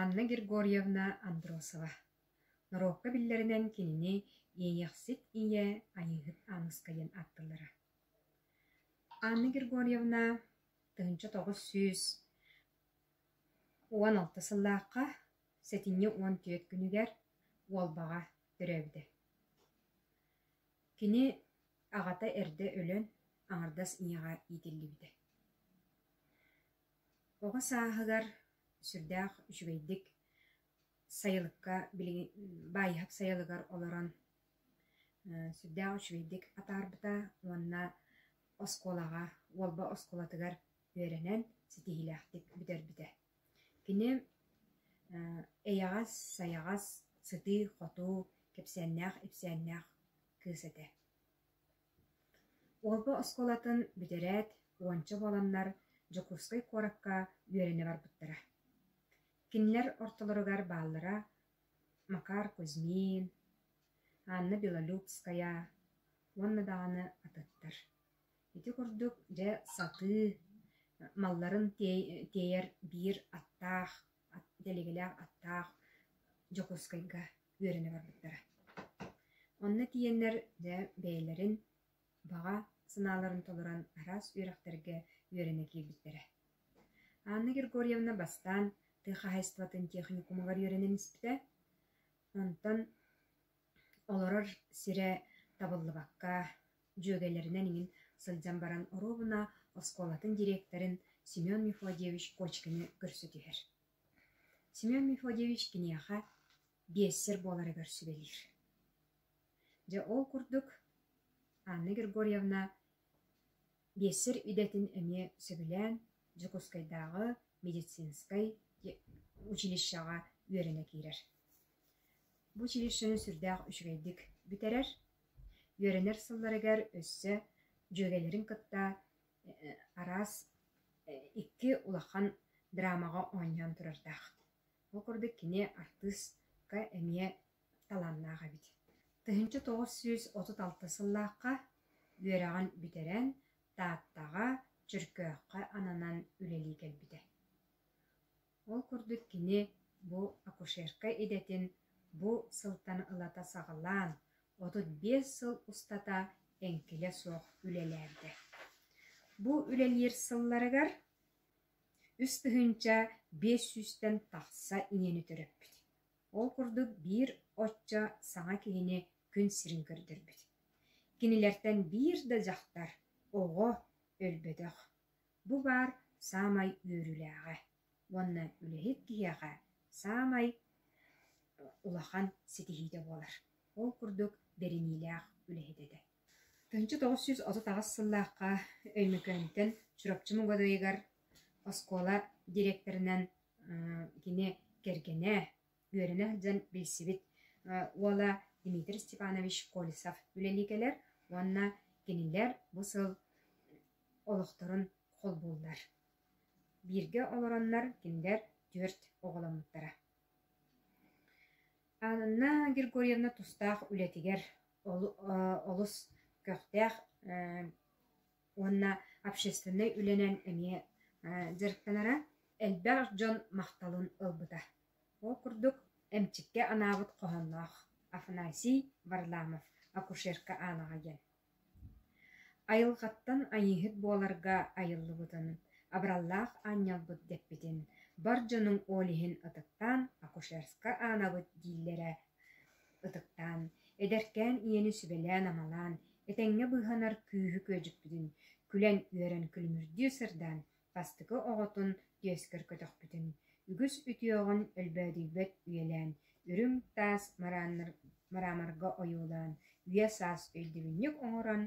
Анна Григорьевна Андросова норуокка биллэринэн кинини «Иэйэхсит ийэ Айыыһыт Ааныска» диэн ааттыыллара. Анна Григорьевна тыһыынча тоҕус сүүс уон алта сыллаахха сэтинньи уон түөрт күнүгэр Уолбаҕа төрөөбүтэ. Кини аҕата эрдэ өлөн аҥардас ийэҕэ иитиллибитэ. Оҕо сааһыгар сүрдээх үчүгэйдик сайылыкка билигин баайыһап сайылыгар олорон сүрдээх үчүгэйдик атаарбыта уонна оскуолаҕа Уолба оскуолатыгар үөрэнэн ситиһиилээхтик бүтэрбитэ. Кини эйэҕэс, сайаҕас, сытыы-хотуу, кэпсээннээх-ипсээннээх кыыс этэ. Уолба оскуолатын бүтэрээт, уонча буоланнар Дьокуускай куоракка үөрэнэ барбыттара. Кинилэр ортолоругар бааллара Макар Кузьмин, Анна Белолюбская уонна даҕаны атыттар. Ити курдук, дьэ, сатыы малларын тиэйэр биир аттаах, дэлигэлээх аттаах Дьокуускайга үөрэнэ барбыттара. Онно тиийэннэр дьэ бэйэлэрин баҕа санааларын толорон араас үөрэхтэргэ үөрэнэ киирбиттэрэ. Анна Григорьевна бастаан тыа хаһайыстыбатын техникумугар үөрэнэн испитэ. Онтон олорор сирэ табыллыбакка, дьүөгэлэринэн иҥин сылдьан баран оруобуна оскуолатын директорын Семен Мефодиевич Кочкины көрсө түһэр. Семен Мефодьевич киниэхэ биэссэр буоларыгар сүбэлиир. Дьэ ол курдук Анна Григорьевна биэссэр идэтин эмиэ сөбүлээн Дьокуускайдааҕы медицинскэй училищеҕа үөрэнэ киирэр. Бу училищены сүрдээх үчүгэйдик бүтэрэр, үөрэнэр сылларыгар өссө дьүөгэлэрин кытта араас икки улахан драмаҕа оонньоон турардаах. Ол курдук кини артыыска эмиэ талааннаах эбит. Тыһыынча тоҕус сүүс отут алта сыллаахха үөрэҕин бүтэрэн Тааттаҕа, Чөркөөххө ананан үлэлии кэлбитэ. Ол курдук кини бу акушерка идэтин бу сылтан ылата саҕалаан, отут биэс сыл устата эҥкилэ суох үлэлээбитэ. Бу үлэлиир сылларыгар үс тыһыынча биэс сүүстэн тахса иэни төрөппүт. Ол курдук биир оччо саҥа киһини күн сирин көрдөрбүт. Кинилэртэн биир да дьахтар оҕо өлбөтөх. Бу баар саамай үөрүүлээҕэ уонна үлэһит киһиэхэ саамай улахан ситиһиитэ буолар. Ол курдук бэриниилээх үлэһит этэ. тыһыынча тоҕус сүүс отут аҕыс сыллаахха Өймөкөөнтөн Чурапчы Мугадайыгар оскуола дириэктэринэн кини кэргэнэ үөрэнэ сылдьан билсибит уола Дмитрий Степанович Колесов үлэлии кэлэр уонна кинилэр бу сыл олохторун холбууллар. Бииргэ олороннор кинилэр түөрт оҕоломмуттара. Анна Григорьевна тустаах үлэтигэр олус көхтөөх уонна общественнай үлэнэн эмиэ дьарыктанара, элбэх дьон махталын ылбыта. Ол курдук, эмчиккэ анаабыт хоһоонноох Афанасий Варламов «Акушерка Анаҕа» диэн айылҕаттан айыыһыт буоларга айыллыбытын, абыраллаах аанньалбыт дэппитин, бар дьонуҥ ол иһин ытыктаан акушерска аанабыт дииллэрэ ытыктаан, эдэркээн ийэни сүбэлээн-амалаан, этэҥҥэ быыһанар күүһү-күөдьүкпүтүн күлэн-үөрэн күлүмүрдүү сырдаан бастакы оҕотун түөскэр көтөхпүтүн, үгүс үтүөҕүн өлбөөдүйбэт үйэлээн, үрүҥ таас мараамарга ойуулаан, үйэ-саас өйдөбүнньүк оҥорон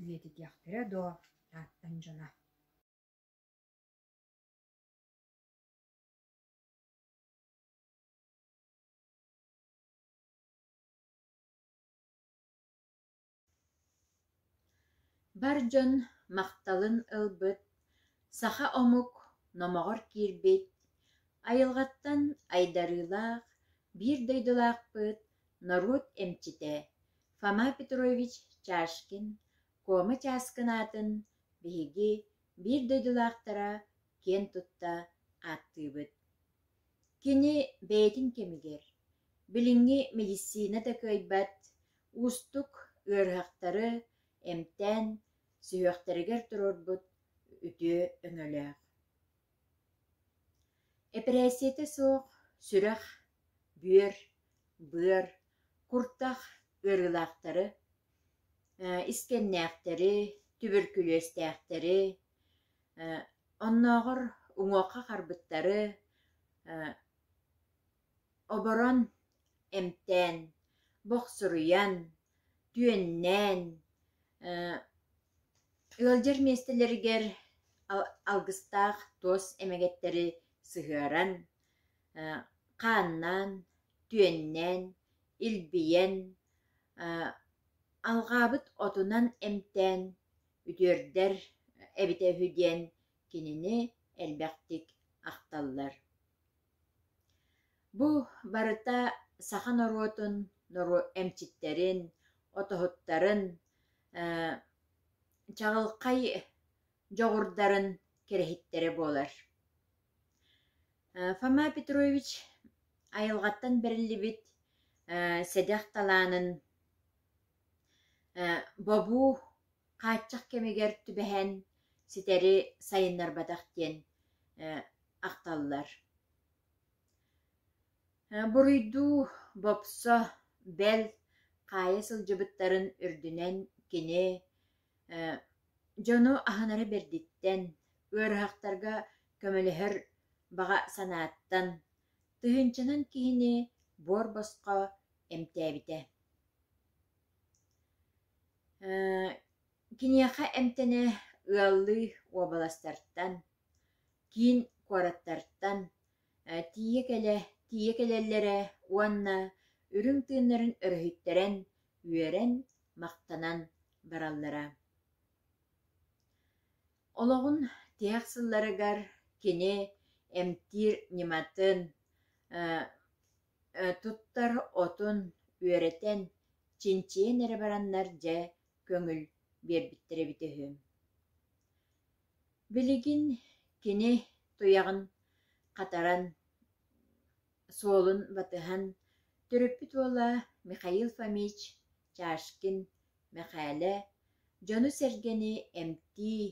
үйэтитиэхтэрэ дуо Тааттан дьоно Бар дьон махталын ылбыт саха омук номоҕор киирбит айылҕаттан айдарыылаах биир дойдулаахпыт норуот эмчитэ Фома Петрович Чашкин Куома Чааскын аатын биһиги биир дойдулаахтара киэн тутта ааттыыбыт. Кини бэйэтин кэмигэр билиҥҥи мэдиссиинэ да кыайбат Уустук ыарыһахтары эмтээн сүһүөхтэригэр туруорбут үтүө өҥөлөөх. Эпэрээссийэтэ суох сүрэх, бүөр, быар, куртах ыарыылаахтары, искэннээхтэри, түбүркүлүөстээхтэри, оннооҕор уҥуохха харбыттары оборон, эмтээн, бохсуруйан, түөннээн, ыалдьар миэстэлэригэр алгыстаах туос эмэgэттэри сыһыаран, хааннаан, түөннээн, илбийэн, алҕаабыт отунан эмтээн үтүөрдэр эбитэ үһү диэн кинини элбэхтик ахталлар. Бу барыта саха норуотун эмчиттэрин, отоһуттарын, чаҕылхай дьоҕурдарын кэрэһиттэрэ буолар. Фома Петрович айылҕаттан бэриллибит сэдэх талаанын Бобуу хааччах кэмигэр түбэһэн ситэри сайыннарбатах диэн ахталлар. Буруйдуу бопсо, бэл, хаайа сылдьыбыттарын үрдүнэн кини дьону аһынара бэрдиттэн, ыарыһахтарга көмөлөһөр баҕа санааттан, тыһыынчанан киһини буор босхо эмтээбитэ. Киниэхэ эмтэнэ ыаллыы уобаластартан, киин куораттартан тиийэ кэлэ тиийэ кэлэллэрэ уонна үрүҥ тыыннарын өрүһүттэрэн үөрэн махтанан бараллара. Олоҕун тиһэх сылларыгар кини эмтиир ньыматын Туттар отун үөрэтэн, чинчийэн эрэ бараннар дьэ көҥүл биэрбиттэрэ эбитэ үһү Билигин кини туйаҕын хатаран, суолун батыһан төрөппүт уола Михаил Фомич Чашкин Мэхээлэ дьону-сэргэни эмтии,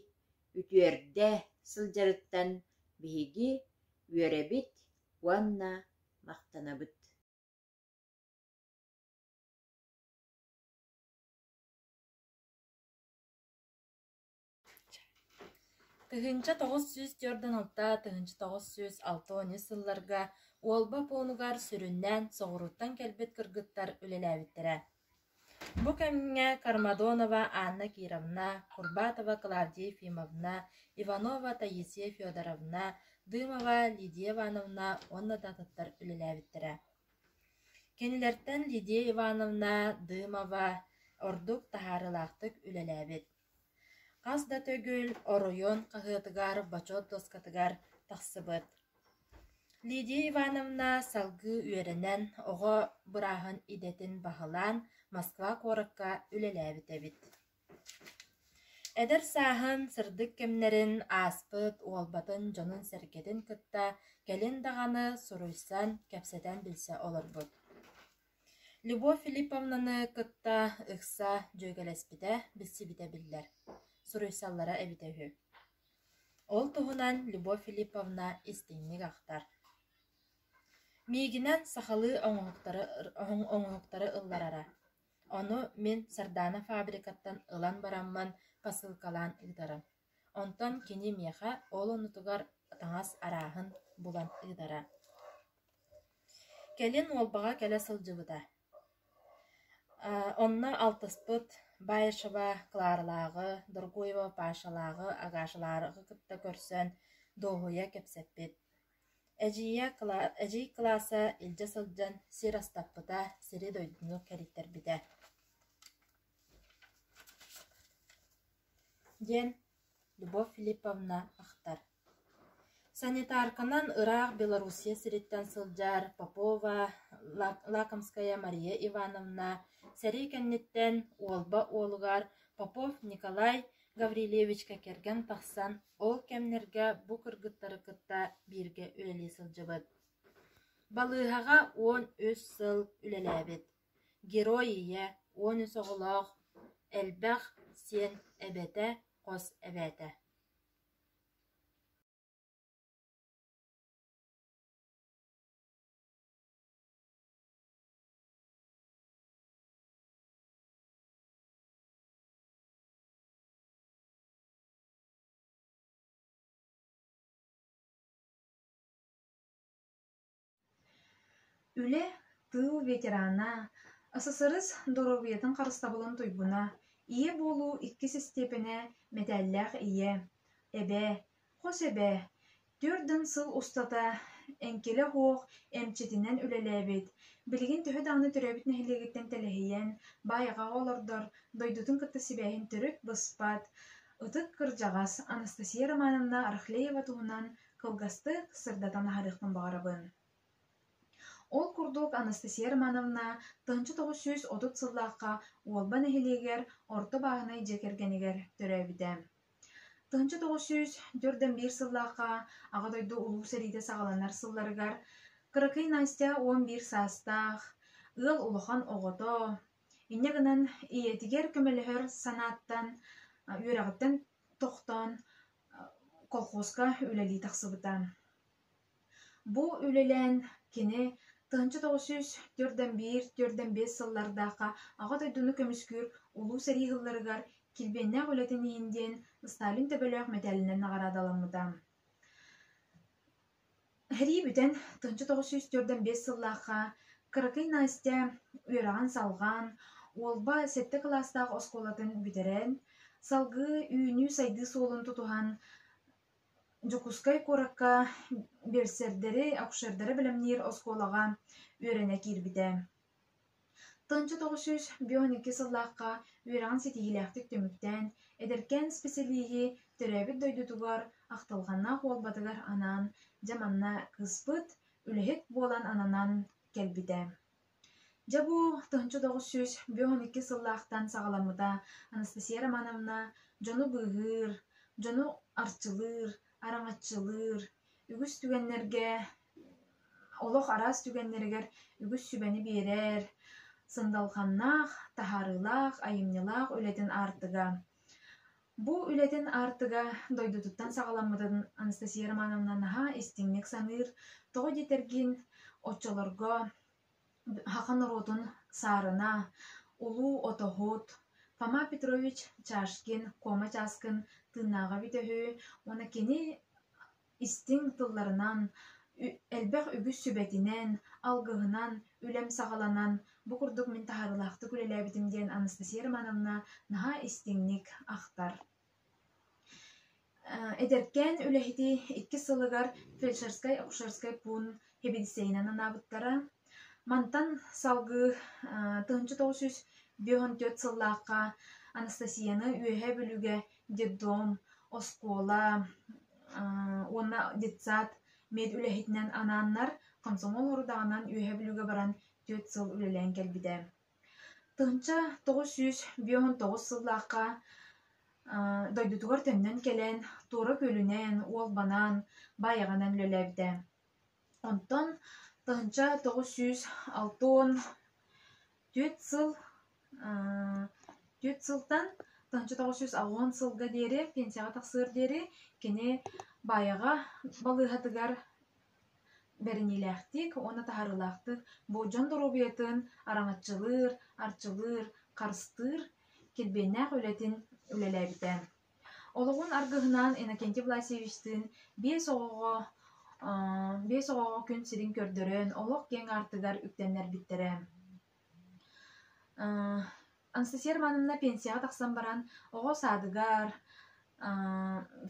үтүөрдэ сылдьарыттан биһиги үөрэбит уонна махтанабыт тыһыынча тоҕус сүүс түөртүн алта тыһыынча тоҕус сүүс алта уон үс сылларга уолба пуунугар сүрүннээн соҕурууттан кэлбит кыргыттар үлэлээбиттэрэ Бу кэмҥэ Кармадонова Анна Кировна, Курбатова Клавдия Ефимовна, Иванова Таисия Федоровна, Дымова Лидия Ивановна уонна да атыттар үлэлээбиттэрэ. Кинилэртэн Лидия Ивановна, Дымова ордук таһаарыылаахтык үлэлээбит. Хас да төгүл оройуон хаһыатыгар, бочуот дуоскатыгар тахсыбыт. Лидия Ивановна салгыы үөрэнэн, оҕо бырааһын идэтин баһылаан, Москва куоракка үлэлээбит эбит. Эдэр сааһын, сырдык кэмнэрин ааспыт, уолбатын, дьонун-сэргэтин кытта кэлин даҕаны суруйсан, кэпсэтэн билсэ олорбут. Любовь Филипповнаны кытта ыкса дьүөгэлэспитэ, билсибитэ биллэр, суруйсаллара эбитэ үһү. Ол туһунан Любовь Филипповна истиҥник ахтар. Миигинэн сахалыы оҥоһуктары, оҥоһуктары ылларара. Ону мин Сардаана фабрикаттан ылан бараммын, посылкалаан ыытарым Онтон кини миэхэ ол оннутугар таҥас арааһын булан ыытара: «Кэлин Уолбаҕа кэлэ сылдьыбыта, онно алтыспыт Баишева Кларалааҕы, Доргуева Пашалааҕы, Агашалааҕы кытта көрсөн дуоһуйа кэпсэппит. Эдьиий кылааса илдьэ сылдьан сир астаппыта, сири дойдуну кэриттэрбитэ» диэн Любовь Филипповна ахтар. Санитарканан ыраах Белоруссия сириттэн сылдьар Попова Лакомская Мария Ивановна сэрии кэнниттэн Уолба уолугар Попов Николай Гаврильевичка кэргэн тахсан ол кэмнэргэ бу кыргыттары кытта бииргэ үлэлии сылдьыбыт. Балыыһаҕа уон үс сыл үлэлээбит. Герой ийэ, уон үс оҕолоох, элбэх сиэн эбэтэ, хос эбээтэ Үлэ тыыл ветерана, ССРС доруобуйатын харыстабылын туйгуна, ийэ буолуу иккис истиэпэнэ мэтээллээх ийэ, эбээ, хос эбээ, түөрт дьон сыл устата эҥкилэ оһуох эмчитинэн үлэлээбит, билигин төһө даҕаны төрөөбүт нэһилиэгиттэн тэлэһийэн, баайҕаҕа олордор, дойдутун кытта сибээһин төрүт быспат ытык кырдьаҕас Анастасия Романовна Арахлеева туһунан кылгастык сырдатан аһарыахпын баҕарабын ол курдук анастасия романовна тыһыынча тоҕус сүүс отут сыллаахха уолба нэһилиэгэр орто бааһынай дьиэ кэргэнигэр төрөөбүтэ тыһыынча тоҕус сүүс төрт да биир сыллаахха аҕа дойду улуу сэриитэ саҕаланар сылларыгар кыракый настя уон биир саастаах ыал улахан оҕото инньэ гынан ийэтигэр көмөлөһөр санааттан үөрэҕиттэн тохтоон колхозка үлэлии тахсыбыта. Бу үлэлээн кини тыһыынча тоҕус сүүс төрдөн биир төрдөн биэс сыллардаахха Аҕа дойдуну көмүскүүр Улуу сэрии сылларыгар килбиэннээх үлэтин иһин диэн Сталин төбөлөөх мэтээлинэн наҕараадаламмыта. Эһэлии бүтэн, тынчы тоҕус сүүс түөртэн биэс сыллаахха кыракый Настя үөрэҕин-салҕаан, Уолба сэттэ кылаастаах оскуолатын бүтэрэн, салгыы үүнүү-сайдыы суолун тутуһан, Дьокуускай куоракка берсердэри, акушердары бэлэмниир оскуолаҕа үөрэнэ киирбитэ. Тунча тоҕүсүс бүтүн икки сыллаахха үөрэҕин ситиһиилээхтик түмүктээн, эдэркээн исписэлииһи төрөөбүт дойдутугар ахтылҕаннаах буолбатыгар анаан, дьэ манна кыыспыт, үлэһит буолан ананан кэлбитэ. Дьэ бу Тунча тоҕүсүс бүтүн икки сыллаахтан саҕаламмыта Анастасия Романовна дьону быыһыыр, дьону арчылыыр, араҥаччылыыр, үгүс түгэннэргэ Олох араас түгэннэригэр үгүс сүбэни биэрэр, сындалҕаннаах, таһаарыылаах, айымньылаах үлэтин аартыга. Бу үлэтин аартыга дойдутуттан саҕаламмытын Анастасия Романовна наһаа истиҥник саныыр, тоҕо диэтэргин, оччолорго саха норуотун саарына, улуу отоһут Фома Петрович Чашкин, Куома Чааскын тыыннааҕа эбитэ үһү уонна кини Истиҥ тылларынан, элбэх үгүс сүбэтинэн, алгыһынан, үлэм саҕаланан бу курдук мин таһаарыылаахтык үлэлээбитим диэн Анастасия Романовна наһаа истиҥник ахтар. Эдэркээн үлэһити иккис сылыгар фельдшерскай-акушерскай пуун хибидиссэйинэн анаабыттара. Мантан салгыы тыһыынча тоҕус сүүс бүөһүн түөрт сыллаахха Анастасияны Үөһээ Бүлүгэ детдом, оскуола уонна детсад медүлэһитинэн анааннар комсомол сорудаҕынан үөһэ бүлүүгэ баран түөрт сыл үлэлээн кэлбитэ. Тыһынча тоҕус сүүс биэс он тоҕус сыллаахха дойдутугар төннөн кэлэн туора күөлүнэн, уолбанаан, баайаҕанан үлэлээбитэ. Онтон тыһыынча тоҕус сүүс алта уон түөрт сыл түөрт сылтан тыһыынча тоҕус сүүс алуон сылга диэри пенсияҕа тахсыар диэри кини баайаҕа балыыһатыгар бэриниилээхтик уонна таһаарыылаахтык болдьон доруобуйатын араҥаччылыыр, арчылыыр, харыстыыр, килбиэннээх үлэтин үлэлээбитэ. олоҕун аргыһынаан Иннокентий Власьевичтыын биэс оҕоҕо биэс оҕоҕо күн сирин көрдөрөн олох киэҥ аартыгар үктэннэрбиттэрэ Анастасия Романовна пенсияҕа тахсан баран оҕо саадыгар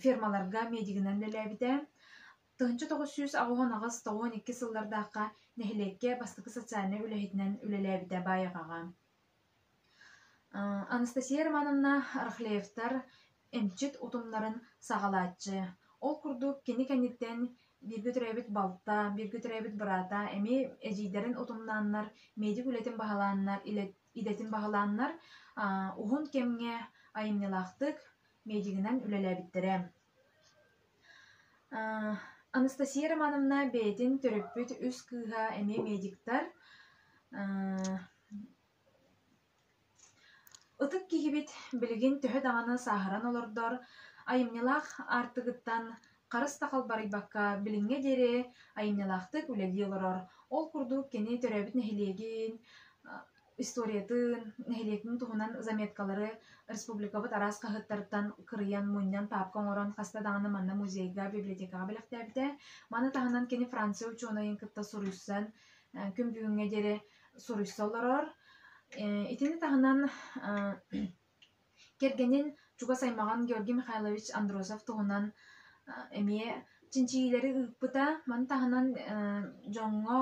фермаларга медигынан үлэлээбитэ тыһыынча тоҕус сүүс аҕыһон аҕыс тоҕуон икки сыллардаахха нэһилиэккэ бастакы социальнай үлэһитинэн үлэлээбитэ баайаҕаҕа Анастасия Романовна Рахлеевтар эмчит утумнарын саҕалааччы. Ол курдук кини кэнниттэн бииргэ төрөөбүт балта, бииргэ төрөөбүт быраата эмиэ эдьиийдэрин утумнааннар, медик үлэтин баһылааннар, идэтин баһылааннар уһун кэмҥэ айымньылаахтык медигинэн үлэлээбиттэрэ. Анастасия Романовна бэйэтин төрөппүт үс кыыһа эмиэ медиктар. Ытык киһибит билигин төһө даҕаны сааһыран олордор, айымньылаах аартыгыттан харыс да халбарыйбакка билиҥҥэ диэри айымньылаахтык үлэлии олорор. Ол курдук кини төрөөбүт нэһилиэгин историятын, нэһилиэкпин туһунан заметкалары республикабыт араас хаһыаттарыттан кырыйан, мунньан, паапка оҥорон хаста даҕаны манна музейга, библиотекаҕа бэлэхтээбитэ. Маны таһынан кини Франция учуонайын кытта суруйсан, күн бүгүҥҥэ диэри суруйса олорор. Итини таһынан кэргэнин чугас аймаҕын Георгий Михайлович Андросов туһунан эмиэ чинчийиилэри ыыппыта. Маны таһынан дьоҥҥо,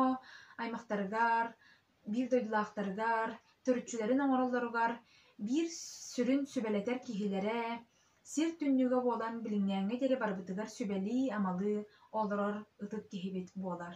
аймахтарыгар, биир дойдулаахтарыгар, төрүччүлэрин оҥороллоругар биир сүрүн сүбэлэтэр киһилэрэ сир түннүгэ буолан билиҥҥээҥҥэ диэри барыбытыгар сүбэлии-амалыы олорор ытык киһибит буолар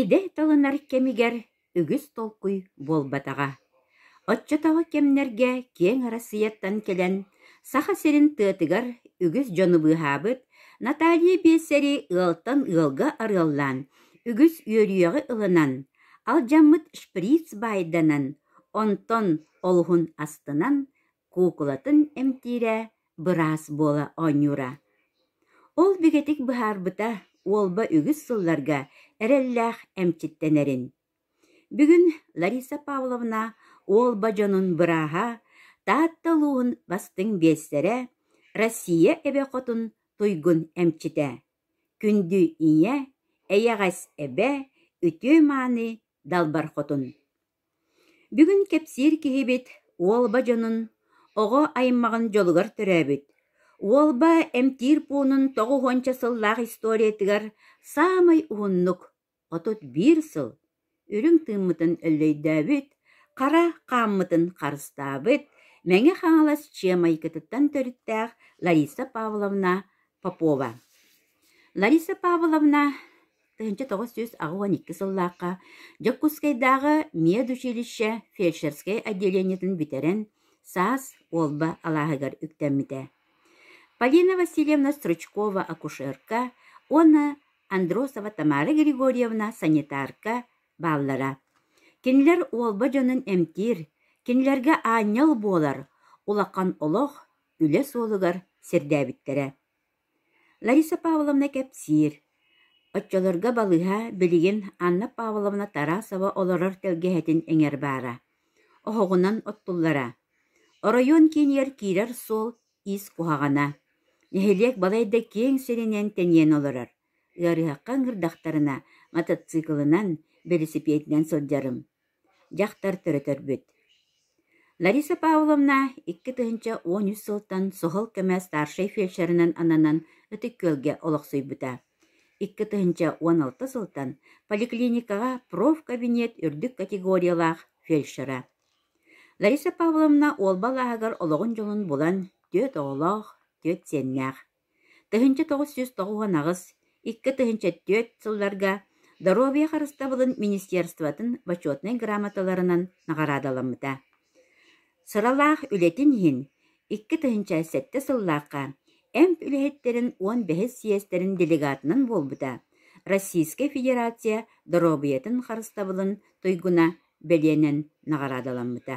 Идэ талынар кэмигэр үгүс толкуй буолбатаҕа, оччотооҕу кэмнэргэ киэҥ Арассыыйаттан кэлэн Саха сирин тыатыгар үгүс дьону быыһаабыт Наталья биэсэри ыалтан ыалга арыаллаан, үгүс үөрүйэҕи ылынан, алдьаммыт шприц баайданан, онтон олуһун астынан куукулатын эмтиирэ, быраас буола оонньуура. Ол бигэтик быһаарбыта уолба үгүс сылларга эрэллээх эмчиттэнэрин. Бүгүн Лариса Павловна уолба дьонун бырааһа, Таатта улууһун бастыҥ биэстэрэ, Россия эбэ хотун туйгун эмчитэ, күндү ийэ, эйэҕэс эбэ, үтүө мааны далбар хотун. Бүгүн кэпсиир киһибит Уолба дьонун, оҕо аймаҕын дьолугар төрөөбүт, Уолба эмтиир пуунун тоҕус уонча сыллаах историятыгар саамай уһуннук, отут биир сыл, үрүҥ тыыммытын өллөйдөөбүт, хара хааммытын харыстаабыт Мэҥэ Хаҥалас Чыа майгытыттан төрүттээх Лариса Павловна Попова. Лариса Павловна Тыһыынча тоҕус сүүс аҕыс уон икки сыллаахха Дьокуускайдааҕы медучилище фельдшерскэй отделениетын бүтэрэн, саас Уолба алааһыгар үктэммитэ. Полина Васильевна стручкова-акушерка уонна Андросова Тамара Григорьевна санитарка бааллара. Кинилэр Уолба дьонун эмтиир, кинилэргэ аанньал буолар улахан олох, үлэ суолугар сирдээбиттэрэ. Лариса Павловна кэпсиир: оччолорго балыыһа билигин Анна Павловна Тарасова олорор тэлгэһэтин иҥэр баара, оһоҕунан оттуллара. Оройуон киинигэр киирэр суол ис куһаҕана, нэһилиэк балайда киэҥ сиринэн тэнийэн олорор. Ыарыһахха ыҥырдахтарына, мотоциклынан, бэлисипиэтинэн сылдьарым. Дьахтар төрөтөрбүт Лариса Павловна икки тыһыынча уон үс сылтан суһал көмө старшай фельдшерынан ананан Ытык Күөлгэ олохсуйбута. Икки тыһыынча уон алта сылтан поликлиникаҕа профкабинет үрдүк категориялаах фельдшера. Лариса Павловна Уолба алааһыгар олоҕун дьолун булан, түөрт оҕолоох, түөрт сиэннээх. Тыһыынча тоҕус сүүс тоҕус уон аҕыс икки тыһыынча түөрт сылларга Доруобуйа харыстабылын министерствотын Бочуотунай грамоталарынан наҕараадаламмыта. Сыралаах үлэтин иһин икки тыһыынча сэттэ сыллаахха эмп үлэһиттэрин уон бэһис съездэрин делегатынан буолбута Российскай Федерация Доруобуйатын харыстабылын туйгуна бэлиэнэн наҕараадаламмыта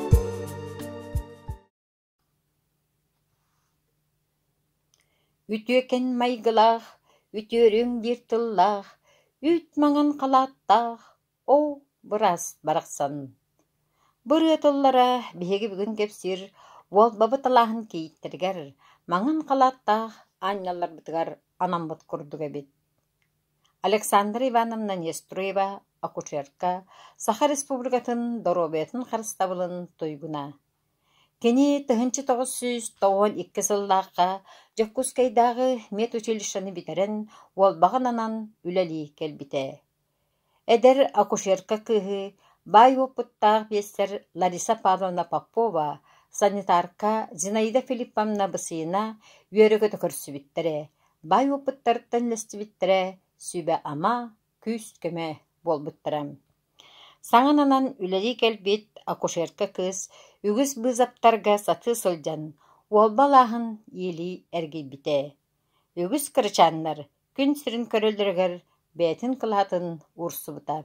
Үтүөкэн майгылаах, үтүөрүҥ диир тыллаах, Үүт маҥан халааттаах, Оо, быраас барахсан! Бырыа тыллара биһиги бүгүн кэпсиир Уолбабы талааһын кийииттэригэр, маҥан халааттаах аанньалларбытыгар анаммыт курдук эбит Александра Ивановна Нестурева акушерка, Саха Республикатын доруобуйатын харыстабылын туйгуна. Кини тыһыынча тоҕус сүүс тоҕуон икки сыллаахха Дьокуускайдааҕы медучилищены бүтэрэн, уолбаҕын анан үлэлии кэлбитэ. Эдэр акушерка кыыһы, баай уопуттаах биэстэр Лариса Павловна Попова, санитарка Зинаида Филипповна Бысыына үөрэ-көтө көрсүбүттэрэ, баай уопуттарыттан үллэстибиттэрэ сүбэ-ама, күүс-көмө буолбуттара. Саҥананан үлэлии кэлбит акушерка кыыс үгүс быызаптарга сатыы сылдьан, уолба алааһын иилии эргийбитэ. Үгүс кырачааннар Күн сирин көрөллөрүгэр бэйэтин кылаатын уурсубута.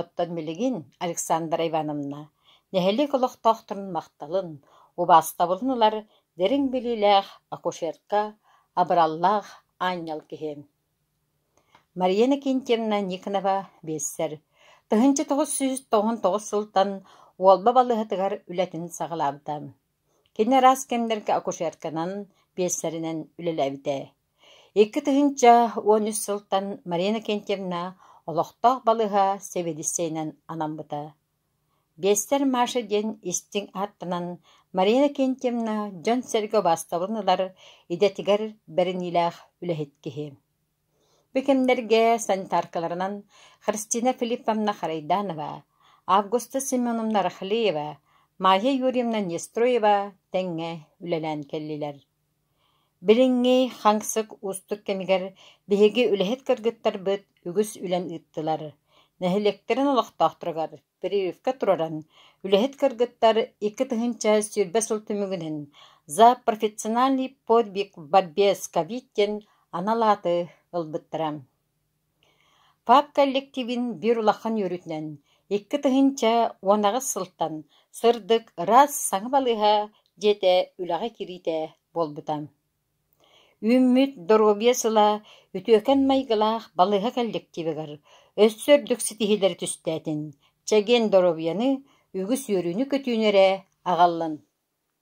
Оттон билигин Александра Ивановна нэһилиэк олохтоохторун махталын, убаастабылын ылар дириҥ билиилээх акушерка, абыраллаах аанньал киһи. Мария Иннокентьевна Никонова биэссэр, тыһыынча тоҕус сүүс тоҕон тоҕус сылтан Уолба балыыһатыгар үлэтин саҕалаабыта. Кини араас кэмнэргэ акушерканан, биэссэринэн үлэлээбитэ. Икки тыһыынча уон үс сылтан Марина Кентьевна олохтоох балыыһа сэбиэдиссэйинэн анаммыта. Биэстэр Маша диэн истиҥ ааттанан Марина Кентьевна дьон-сэргэ убаастабылын ылар, идэтигэр бэриниилээх үлэһит киһи. Бу кэмнэргэ санитаркаларынан Христина Филипповна Харайданова, Августа Семеновна Рахлеева, Майя Юрьевна Нестроева тэҥҥэ үлэлээн кэллилэр. Билиҥҥи хаҥсык уустук кэмигэр биһиги үлэһит кыргыттарбыт үгүс үлэн ыыттылар, нэһилиэктэрин олохтоохторугар прививка тураран, үлэһит кыргыттар икки тыһыынча сүүрбэ сыл түмүгүнэн «За профессиональный подвиг в борьбе с ковид» диэн анал ааты ылбыттара ПАК коллективин биир улахан үөрүүтүнэн икки тыһыынча уон аҕыс сылтан сырдык ыраас саҥа балыыһа дьиэтэ үлэҕэ кириитэ буолбута. Үүммүт доруобуйа сыла үтүөкэн майгылаах балыыһа коллективыгар өссө үрдүк ситиһиилэри түстээтин, чэгиэн доруобуйаны, үгүс үөрүүнү-көтүүнү эрэ аҕаллын!